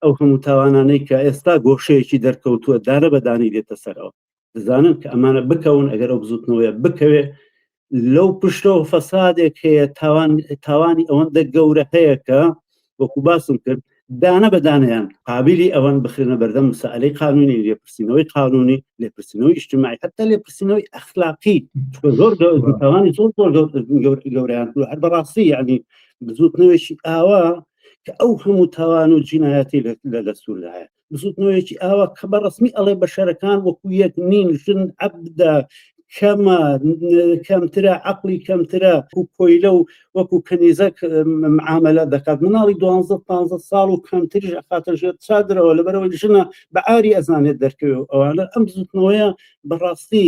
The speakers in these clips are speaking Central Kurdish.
ئەو هەموو تاوانانەی کە ئێستا گۆشەیەکی دەرکەوتووە دارە بەدانی دێتە سەرەوە دەزانن کە ئەمانە بکەون ئەگەر ئەو بزوتنەوەیە بکەوێت لەو پشتەوە فەسادێک هەیە تاوان تاوانی ئەوەندە گەورە هەیە کە وەکو باسم کرد دانە بەدانیان قابلی ئەوان بخرێنە بەردەم مسائلەی قانونی لێپرسینەوەی قانونی لێپرسینەوەی ئیشتماعی حتا لێپرسینەوەی ئەخلاقی زۆر تاوانی زۆر زۆر گەوریان هەر بەڕاستی یعنی بزوتنەوەشی ئاوا کە ئەو هەموو تاوان و جینایەتی لە دەستوردایە بزوتنەوەیەکی ئاوا کە بە ڕسمی ئەڵێ بە شەرەکان وەکو یەک نین ژن عبدا کەمە کەمترە عقلی کەمترە و کۆیلە و وەکو کەنیزەک معاملە دەکات مناڵی دوانزە پ ساڵ و کەمتریش ئەخاتە ژێر چادرەوە لەبەرەوەی ژنە بە ئاری ئەزانێت دەرکەوێت ئەوانە ئەم بزوتنەوەیە بەڕاستی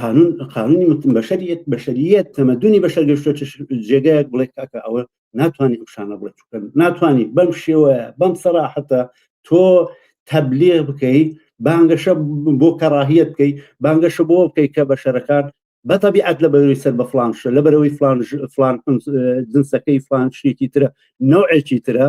قانون قانونی متم بەشریت بەشریت تەمەدونی بەشەر گەشتە جێگایەک بڵێ کاکە ئەوە ناتوانانی ئەو شانە بڵێ چکە ناتوانانی بەم شێوە بەم سەراحەتە تۆ تەبلێ بکەیت بانگەشە بۆ کەڕاهیت بکەیت بانگەشە بۆ بکەیت کە بەشەرەکان بە تەبیعەت لە بەروی سەر بە فلانشە لە بەرەوەی فلان فلان جنسەکەی فلان شتێکی ترە نەوەکی ترە